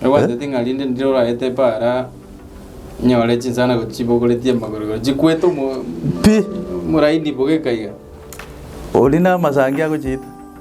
Ebwatete ng'a rinde ndire oraete epaara nyore chinsana gochia chibogoretie amagorogoro chikwete omo- Pi! omoraini boga ekaiga. Ori namasangi agochiita.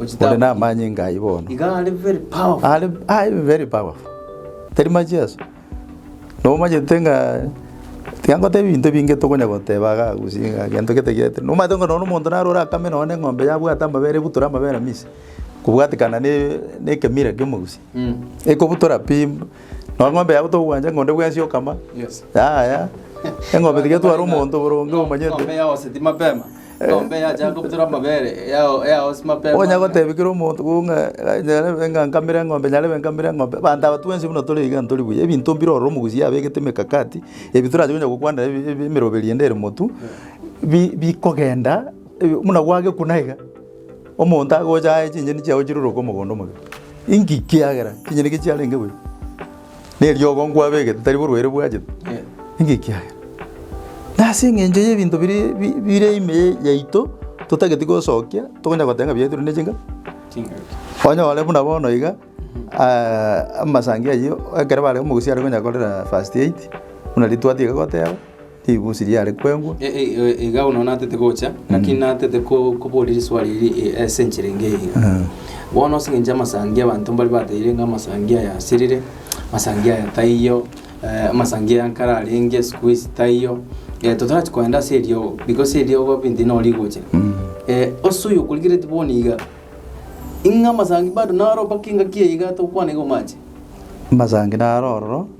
Ore namanyinga ayio bono. Are aye very powerful. Tari macheso. Nomanyete ng'a tiga ngoteba ebinto ebinge tokonya goteba iga gose iga gento gete gete. Nomanyete ng'a nonya omonto naro orakame nonya eng'ombe yabwate amabere ebutora amabere amiche, kobwatekana ne ne ekemira kia omogusii. Ekobutora pi, nonya eng'ombe yago tokogwancha ng'a onde bwensi okama, yaya, eng'ombe tiga etware omonto boronge omanyete. Eng'ombe yachaka gobutora amabere, yao- yaosia mapema. Onya gotebi kera omonto ko ng'a eh, nyarebe ng'a nkamere eng'ombe, nyarebe nkamere eng'ombe. Abanto aba twensi buna tore iga ntori buya, ebinto mbire ororo omogusi abegete emekakati, ebi torache konya gokwanera ebi- ebi- emeroberi ende ere motu, bi- bikogenda eh, buna gwagekuna iga, omonto agocha aye chinyeni chiago chiruruke omogondo omoke. Inki? Ekiagera chinyeni eke chiarenge buya. neriogo nkwabegete tari borwa ere bwachete, ninki ekiagera? Nase eng'encho y'ebinto biria bi- bire ime ya- yaito, totageti gosokia, tokonya goteba ng'a biaetirwe ne chinka, onyore buna bono iga amasangi ayio ekero bare omogusii are konya korera first aid, buna ritwati iga goteba. Ribusi riare kwengwa. E, e, e, iga bono natete gocha lakini mm. natete ko- koboria riswali iri e, ase enchera enge iga mm. bono ase eng'encho amasangi abanto mbari bateire ng'a amasangi aya asirire amasangi aya taiyo eh, amasangi aya nkare arenge siku ici taiyo eh, totarati koenda ase eriogo because eriogo binti nao rigocha mm. eh, ase oyo okorigereti bono iga ing'a amasangi bado naro mpaka engaki iga tokwana iga omache amasangi naro ororo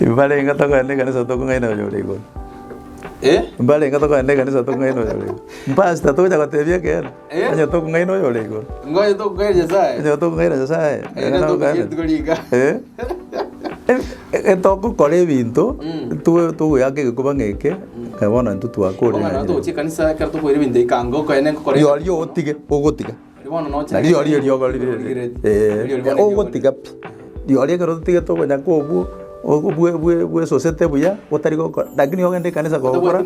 Mbarenga tokogenda ekanisa tokong'aina Oyo ore Igoro. Mbarenga tokogenda ekanisa tokong'aina Oyo ore Igoro. Mpastor togocha gotebia ekeene, onye tokong'aina Oyo ore Igoro. Onye tokong'aina Nyasae. Getogokora ebinto togoeaka egekuba ng'a eke, ng'a bono intwe twakure. Rirorio otige ogotiga. Na rirorio eriogo rire, ee, ogotiga pi. Rirorio ekero totigete okonya kobua, ogo bwe- bwe- bwesosete buya, otari gokora, lakini ogende ekanisa kogokora,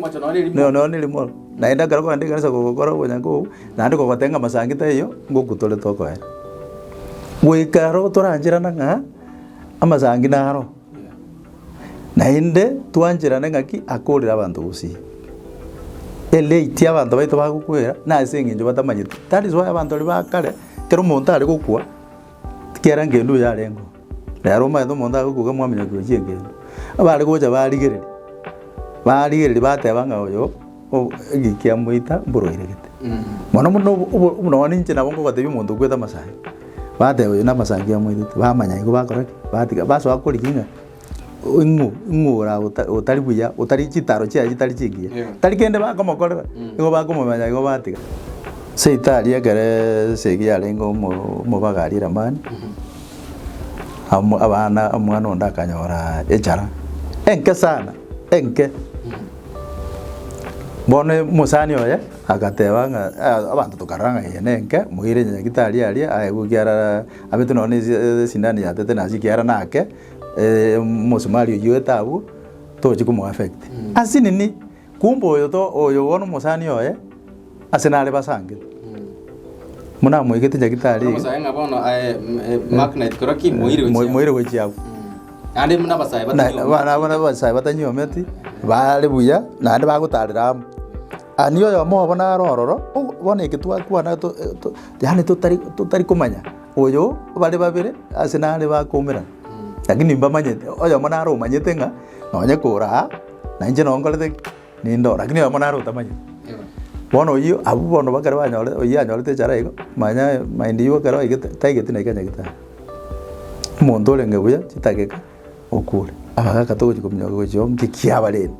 noyo noyo ne erimo. Naende ekero okogenda ekanisa kogokora okonya kobua, naende kogotebia ng'a masangi taiyo, ngoku tore tokoera. Goika aro torancherana ng'a, amasangi naro. Naende twancherane ng'aki akoorire abanto gose e late abanto baito bagokwera nase eng'encho batamanyeti. That is why abanto baria ba kare ekero omonto are gokwa tikiera ngendo oyo arenge oo. Rero omanyete omonto are gokwa iga mwamenya koyechia engendo. Abare gocha barigereria, barigereria bateba ng'a oyo. O, eki kiamoita mborwairegete. Mono mono obo- obo- buna bono inche nabo ngobatebia omonto okwete amasangi, bateba oyo namasangi amoitete, bamanya igo bakora ki? Batiga basoa koriki ng'a o- ing'u ing'u ora ota- otari buya, otari chitaro chiaye chitari chingiya, tari kende bakomokorera, igo bakomomanya igo batiga. Seita aria ekeree esegi yarenge omo- omobaga aria Lamani, amo abana omwana onde akanyoraa echara enke sana, enke. Bono omosani oye agateba ng'a ah abanto tokarora ng'a eye nenke, moire nyagetari aria aye igo ekiara abete nonye nesi esindano ya tetenasi ekiara nake omosumari oyio etaabu, tochi komo affect. Ase nini? Kumbe oyo to oyo bono omosani oye. Ase nare basange. Buna amoigete nyagitari eye. Omosae ng'a bono aye mm, eh, Mark Knight koraki moire Mo- wechiago. moire gwechiago Naende muna abasae Na- batari omo- abana abana abasae batanyometi bare buya naende bagotarera amo ani oyomo obo naro ororo o- bono eke twakwana to- to- yaani totari totari komanya oyo bare babere ase nare bakomerana lakini mbamanyete oyomo naro omanyete ng'a nonye kora aa nainche nonkorete ki Nindoo, rakini oyomo nare otamanyeti. Bono oyio, abwo bono bakare banyore, oyio anyorete echara igo, manyaaye mind yiwe ekero oigete, taigeti naki anyagete aye. Omonto orenge buya chidageka okure, abagaka togochi kominyoka iga gochia oo, nki kiabareti?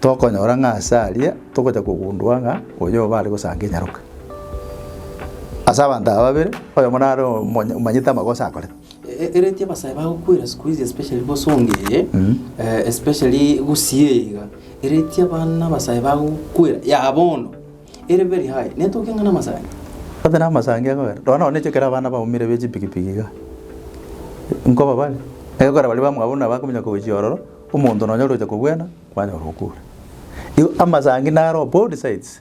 Tokonyora ng'a ase aria, togocha kogundua ng'a oyo obo are gosanka enyaroka. Ase abanto aba babere, oyomo nare omonye omanyete amagoso akorete. Ereti abasae bagokwera sikuizi especially bosongee especially gusii iga ereti abana abasae bagokwera ya bono ere very high netoke ng'a namasani Ote namasangi akogera nonya nonya echo ekero abana baumire be chipikipiki iga nkoba bare egekogera baria bamwabo buna bakominyoka gochia ororo omonto nonya oroche kogwena kwanyora okure. Igo amasangi naro both sides.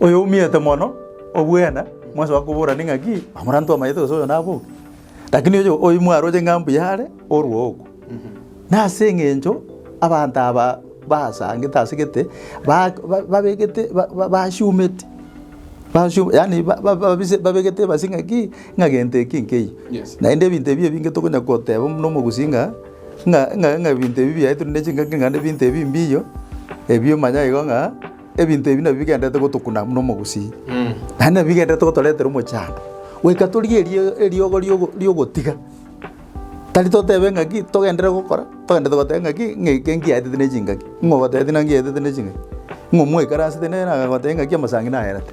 Oyoumete mono obwene mwasoa koborani ng'aki, Omoranto omanyete gose oyo nabe oki? Lakini oyo oyi mwaroche ng'a mbuya are orwougo. Nase engencho abanto aba basangete ase gete ba- ba- babegete ba- ba- basiumeti basiu yaani ba- ba- babise babegete ebasi ng'aki, ng'a gento eke nkeiyo. Yes. Naende ebinto ebi ebinge tokonya goteba buna omogusii ng'a ng'a ng'a ng'a ebinto ebi biaye tore ne chingaki naende ebinto ebi mbiyo, ebi omanya igo ng'a. Ebinto ebi nabio bigendererete gotokuna buna omogusii, naende nabio bigendererete gotoretera omochando, goika torigie erio- eriogo riogo riogotiga. Tari totebe ng'aki togenderere gokora, togenderete goteba ng'aki ng'a eke nkiaetete ne chingaki, ng'o ogotebetia naki nkiaetete ne chingaki, ng'o mwaikaransete nere nagoteba ng'aki amasangi naerete.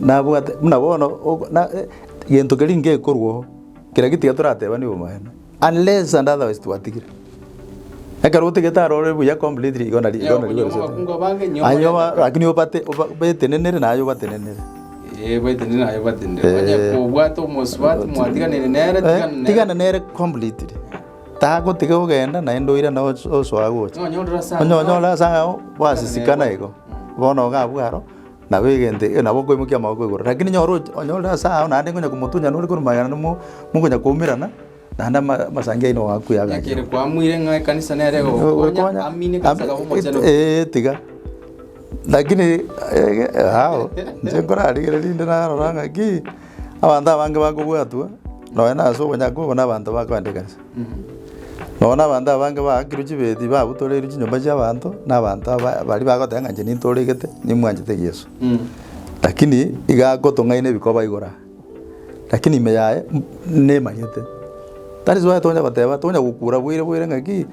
Nabwate buna bono ogo na eh, gento keria ngekorwa oo, keria getiga toratebanie obomaene, unless and otherwise twatigire. Ekero otigete arore buya completely igo nari igo nari Nyaokonyooma abakungu abange, nyaokonyooma- Aye oba- lakini obate oba betenenere na aye obatenenere. Eh, bwetenene naye obatenene. Eh. Onye kobwate omosubati mwatiganire nere, Eh, tigana nere. tigana nere completely. Tagotiga ogenda naende oira na oso- osoa gocha. Nonye orore ase Onye onyore ase ang'ao gwasisikana igo, bono iga abwo aro, Nabo egento ekio nabo okoimokia amaboko igoro. Rakini nyora oche onyore ase agwo naende ngonya komotunya nore korwa magena namo mokonya koumerana, naende ama- amasangi aino oakwe Ekero agachenu. kwamuire ng'a ekanisa nere egogokonya, amina ekanisa ekaba omochenu. Eeh tiga. Rakini ege ao, inche nkorarigereria rinde narora ng'aki, abanto abange bakobwatwa, nonya nase obonyakobo na abanto bakoenda ekanisa. Nonya nabanto abange baakirwe chibeti babutoreirwe chinyomba chi'abanto nabanto aba baria bagoteba ng'a inche nintoregete nimwanchete Yeso. Lakini iga agotong'aina ebikoba igoro aa. Lakini ime yaye nemanyete. That is why tonya goteba tonya gokura boire boire ng'aki,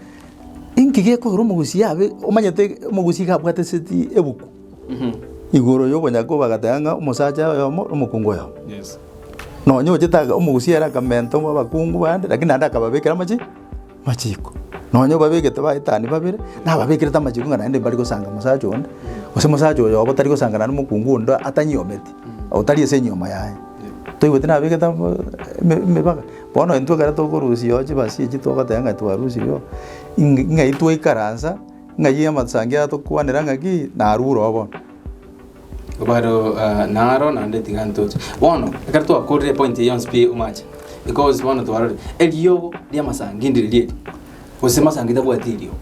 inki gekorwa omogusia abe omanyete omogusia iga abwate seti ebuku. Igoro y'okonyaga bagateba ng'a omosacha oyomo nomokungu oyomo. Nonya ochete aka omogusia ere akamenta abakungu bande lakini naende akababekera amachi amachiko. Nonya obabegete baetani babere, nababekerete amachiko ng'a naende mbari gosanga mosacha onde, gose mosacha oyoba otari gosangana nomokungu onde atanyiometi, otari ase enyiomo yaye. Toigweti nabegete amo eme emebaga. Bono intwe ekero tokorusia oo chibasi echi togoteba ng'a twarusirie oo, ing'ai twaikaransa. Ng'ai y'amasangi atokwanera ng'aki narwo oroo bono? Obaro ah, naro naende tiga ntoche. Bono, ekero twakorire epointi eye yonsi pi omache, because bono twarorire eriogo ri'amasangi ndiri ri'eri, gose masangi tabwati eriogo.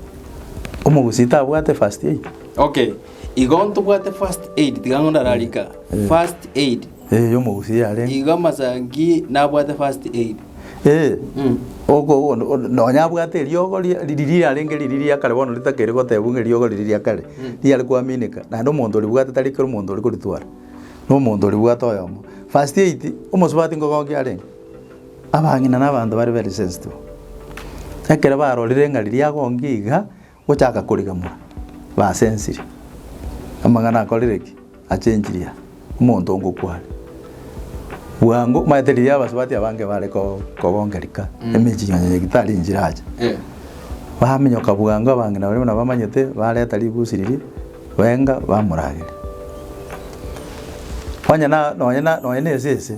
Omogusii tabwate first aid. Okay. Igo ntobwate first aid, tiga ng'o ndararika. First aid. Eh, y'omogusii yarenge. Igo amasangi nabwate first aid. Eh, Mm. oko oko no- no- nonya abwate eriogo ria- riri riarenge riri ria kare bono ritakeri goteebwa ng'a eriogo riri ria kare riare kwamineka naende omonto oribwate tari kera omonto ore koritwara na omonto oribwate oyomo first aid omosubati nkogokia arenge abang'ina na abanto bare very sensitive ekero barorire ng'a riria agonkia iga. Gochaka korigamora, basensirie amang'ana akorire ki? Achenchirie aya, omonto ngokwa are. Bwango, omanyete riria abasubati aba nge bare ko- kogonka rika, emechie onye eki tari enchire acha. Baminyoka bwango abang'ina baria buna bamanyete, bareta ribusi riria, benga, bamoragera. Onye na- nonye na- nonye na esese.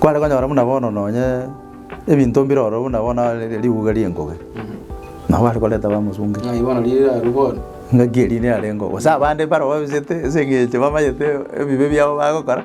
Kware konyora buna bono nonye ebinto mbire ororo buna bono nonye riguga ri'engobe, nabo bare koreta bamosunte. Ng'ai bono riria rirarue bono? Ng'aki eria niyarengeo, gose abande mbare babisete ase eng'encho bamanyete ebibe biabo bagokora.